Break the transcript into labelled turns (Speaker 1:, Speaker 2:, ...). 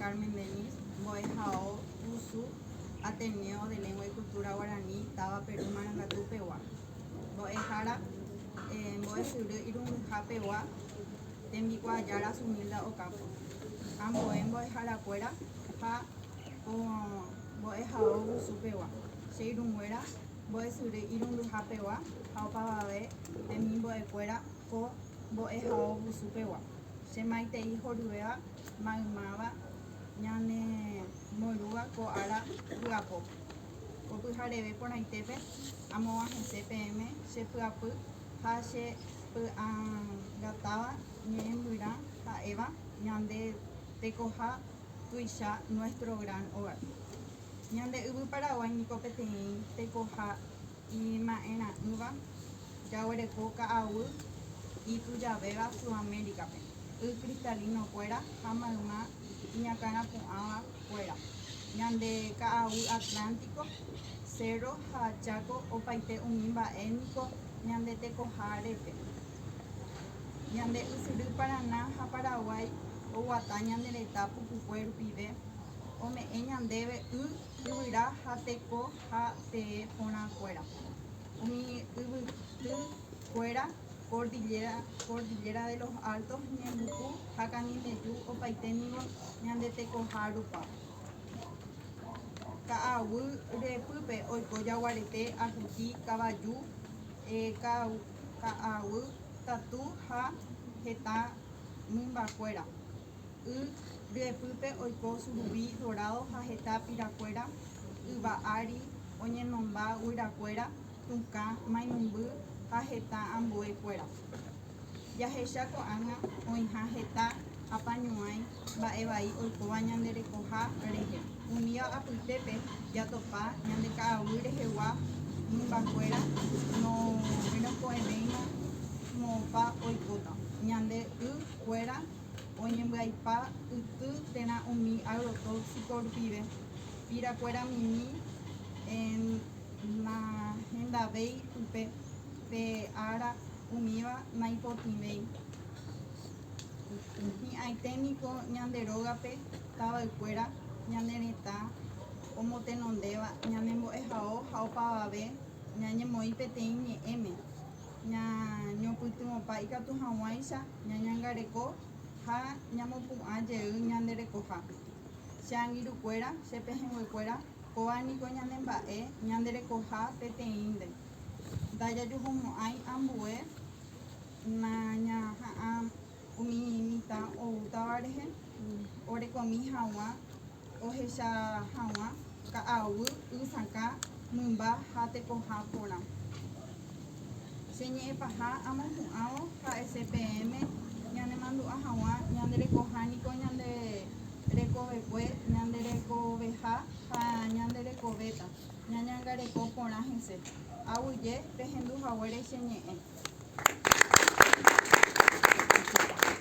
Speaker 1: Carmen Dennis, mbo'ehao Usu, Ateneo de Lengua y Cultura Guarani, táva Peru Marangatu pegua. Mbo'ehára, Mbo'esyry Irundyha pegua, Tembikuaajára Zumilda Ocampo. Ambue mbo'eharakuéra ha po mbo'ehao Usu pegua, Che irũnguéra Mbo'esyry Irundyha pegua ha opavave temimbo'ekuéra po mbo'ehao Usu pegua, Che maitei horyvéva, maymáva ñane morúva ko ára vy'apópe. Ko pyhareve porãitépe amo'ã hese peẽme che py'apy ha che py'angatáva ñe'ẽmbyrã ha'éva ñande tekoha tuicha nuestro gran hogar. Ñande yvy Paraguái niko peteĩ tekoha. Ima'erã'ỹva, jaguereko ka'aguy itujavéva Sudamérica-pe, y cristalino-kuéra ha mayma iñakãrapu'ãva kuéra, ñande ka'aguy Atlántico, cerro ha Chaco opaite umi mba'e niko ñande tekoha repe. Ñande ysyry Paraná ha Paraguay oguata ñande retã pukukue rupive, ome'ẽ ñandéve y, yvyra ha teko. ha tee porãkuéra, umi yvyty kuéra, kordilléra, Cordillera de los Altos, ñembyku ha Canindeyú opaite ningo ñande tekoha rupa. Ka'aguy repýpe oiko jaguarete, ahuti, kavaju, ka'aguy tatu ha heta mymbakuéra. Y ryepýpe oiko surubi dorádo ha heta pirakuéra, yva ári, oñenomba guyrakuéra, tũkã, mainumby ha heta ambue kuéra. Jahecha ko'ág̃a oĩha heta apañuãi mba'e vai oikóva ñande rekoha rehe. Umíva apytépe jatopa ñande ka'aguy rehegua mymba kuéra norenokõ'evéima moõpa oikóta ñande y kuéra oñembyaipa yty térã umi agrotóxico rupive, pira kuéra mimi nahendavéi upe pe ára umíva naipotĩvéi. Hi'ãite niko ñande rógape tavay kuéra ñane retã omotenondéva ñanembo'ehao ha opavave ñañemoĩ peteĩ ñe'ẽme, ñañopytyvõpa ikatu hag̃uáicha ñañangareko ha ñamopu'ã jey ñande rekoha. Che angirũkuéra, che pehẽnguekuéra, kóva niko ñane mba'e ñande rekoha peteĩnte. Ndajajuhumo'ãi ambue nañaha'ã. Umi mitã oútava rehe orekomi haguã ohecha haguã ka'aguy, y sakã, mymba ha tekoha porã. Che ñe'ẽ paha amohu'ãvo ha'ese peẽme ñanemandu'a haguã ñande rekoha niko ñande rekovekue, ñande rekoveha ha ñande rekovéta. Ñañangareko porã hese. Aguyje pehendu haguére che ñe'ẽ.